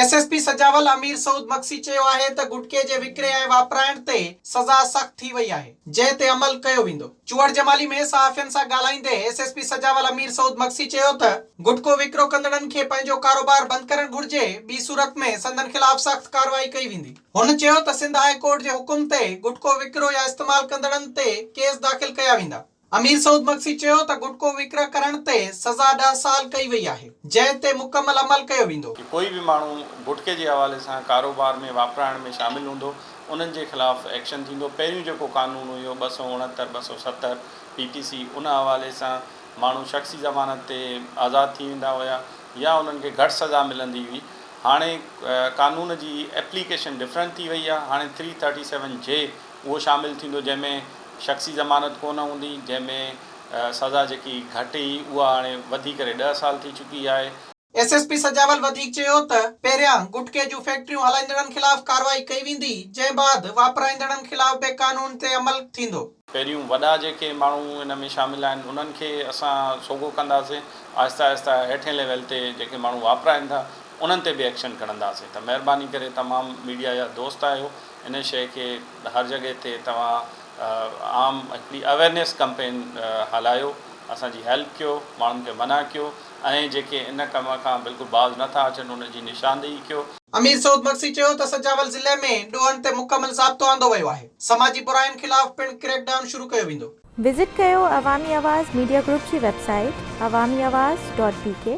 S S P Sujawal Amir Saud Magsi چيو آهي ته گٽڪي جي وڪري ۽ واپرائڻ تي سزا سخت ٿي وئي آهي جنهن تي عمل ڪيو ويندو. چوهڙجمالي ۾ صحافين سان ڳالهائيندي S S P Sujawal Amir Saud Magsi چيو ته گٽڪو وڪرو ڪندڙن کي پنهنجو ڪاروبار بند ڪرڻ گهرجي ٻي صورت ۾ سندن خلاف سخت ڪارروائي ڪئي ويندي. هن چيو ته سنڌ هاء ڪورٽ جي حڪم تي گٽڪو وڪرو يا استعمال ڪندڙن تي ڪيس داخل ڪيا ويندا. امير سعود مگسي چيو ته گٽڪو وڪري ڪرڻ تي سزا ڏهه سال ڪئي وئي آهي، جنهن تي مڪمل عمل ڪيو ويندو. ڪي ڪوئي به ماڻهو گٽڪي جي حوالي سان ڪاروبار ۾ واپرائڻ ۾ شامل هوندو انهن جي خلاف ايڪشن ٿيندو، پهريون جيڪو قانون هيو ٻه سؤ اڻهتر، ٻه سؤ ستر پي ٽي سي ان حوالي سان ماڻهو شخصي ضمانت تي آزاد ٿي ويندا هيا يا انهن کي گهٽ سزا ملندي هئي هاڻي قانون جي ايپليڪيشن ڊفرنٽ ٿي وئي آهي هاڻي ٿري ٿرٽي سيون جي اهو شامل ٿيندو جنهن ۾ شخصي ضمانت ڪونه هوندي جنهن ۾ سزا جيڪي گهٽ هئي اها هاڻي وڌي ڪري ڏهه سال ٿي چڪي آهي. ايس ايس پي سجاول وڌيڪ چيو ته پهريان گٽڪي جون فيڪٽريون هلائيندڙن خلاف ڪارروائي ڪئي ويندي جنهن بعد واپرائيندڙن خلاف به قانون تي عمل ٿيندو. پهريون وڏا جيڪي ماڻهو ان ۾ شامل آهن انهن کي اسان سوگهو ڪنداسين آهستي آهستي هيٺين ليول تي جيڪي ماڻهو واپرائين ٿا انهن تي به ايڪشن کڻنداسين ته مهرباني ڪري تمام ميڊيا جا دوست آهيو ان شيء کي هر جڳهه تي توهان عام هڪڙي اويرنيس ڪمپين هلايو، اسان جي هيلپ ڪيو، ماڻهن کي منع ڪيو ۽ جيڪي ان ڪم کان بلڪل باز نه ٿا اچن ان جي نشاندهي ڪيو. امير سعود مگسي چيو ته سجاول ضلعي ۾ ڏوهن تي مڪمل ضابطو آندو ويو آهي، سماجي براين خلاف پڻ ڪريڪ ڊائون شروع ڪيو ويندو. وزٽ ڪيو عوامي آواز ميڊيا گروپ جي website Awami Awaz dot بي ڪي.